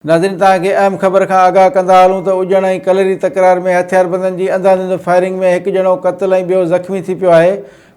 ناظرين توهان کي اهم خبر کان آگاهه ڪندا هلون ته اجڻ ۽ ڪلري تڪرار ۾ هٿياربندن جي انداڌند فائرنگ ۾ هڪ ڄڻو قتل ۽ ٻيو زخمي ٿي پيو آهي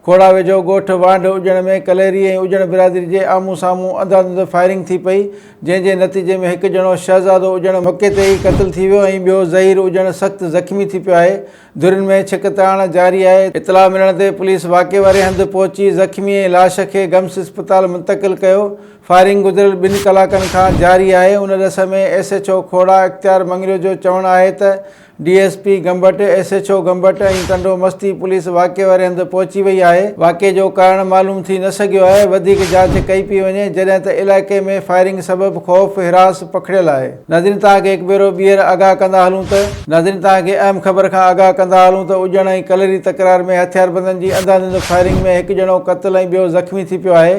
کوڙا ويجهو ڳوٺ وانڍ اجڻ ۾ ڪليري ۽ اجڻ برادري جي آمهون سامهون انداڌند فائرنگ ٿي پئي جنهن جي نتيجي ۾ هڪ ڄڻو شهزادو اجڻ موقعي تي ئي قتل ٿي ويو ۽ ٻيو ظهير اجڻ سخت زخمي ٿي پيو آهي ڌرين ۾ ڇڪ تاڻ جاري آهي، اطلاع ملڻ تي پوليس واقعي واري هنڌ پهچي زخمي ۽ لاش کي گمس اسپتال منتقل ڪيو، فائرنگ گذريل ٻن ڪلاڪن کان جاري آهي، ان ڏس ۾ S H O Khora Ikhtiar Mangrio جو چوڻ آهي ته D S P Gambat, S H O Gambat ۽ Tando Masti police واقعي واري هنڌ پهچي وئي آهي، واقعي جو ڪارڻ معلوم ٿي نه سگهيو آهي، وڌيڪ جاچ ڪئي پئي وڃي، جڏهن ته علائقي ۾ فائرنگ سبب خوف، هراس پکڙيل آهي. ناظرين توهان کي هڪ ڀيرو ٻيهر آگاهه ڪندا هلون ته. ناظرين توهان کي اهم خبر کان آگاهه ڪندا هلون ته اڄڻ ۽ ڪلري تڪرار ۾ هٿياربندن جي انڌا ڌنڌ فائرنگ ۾ هڪ ڄڻو قتل ۽ ٻيو زخمي ٿي پيو آهي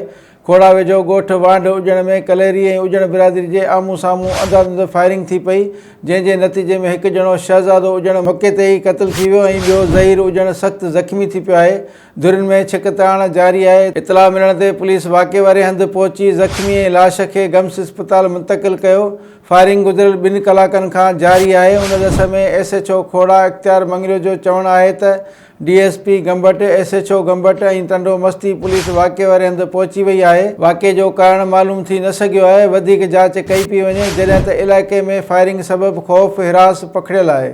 کوڙا ويجهو ڳوٺ وانڍ اڄڻ ۾ ڪلهري ۽ اڄڻ برادري جي آمهون سامهون انڌا ڌنڌ فائرنگ ٿي پئي جنهن جي نتيجي ۾ هڪ ڄڻو شهزادو اڄڻ موقعي تي ئي قتل ٿي ويو ۽ ٻيو ظهير اڄڻ سخت زخمي ٿي پيو آهي ڌرين ۾ ڇڪ تاڻ جاري آهي، اطلاع ملڻ تي پوليس واقعي واري هنڌ پهچي زخمي ۽ لاش کي گمس اسپتال منتقل ڪيو، فائرنگ گذريل ٻن ڪلاڪن کان جاري آهي، ان ڏس ۾ S H O Khora Ikhtiar Mangrio جو چوڻ آهي ته D S P Gambat, S H O Gambat ۽ Tando Masti police واقعي واري هنڌ پهچي وئي آهي، واقعي جو ڪارڻ معلوم ٿي نه سگهيو آهي، وڌيڪ جاچ ڪئي پئي وڃي، جڏهن ته علائقي ۾ فائرنگ سبب خوف، هراس پکڙيل آهي.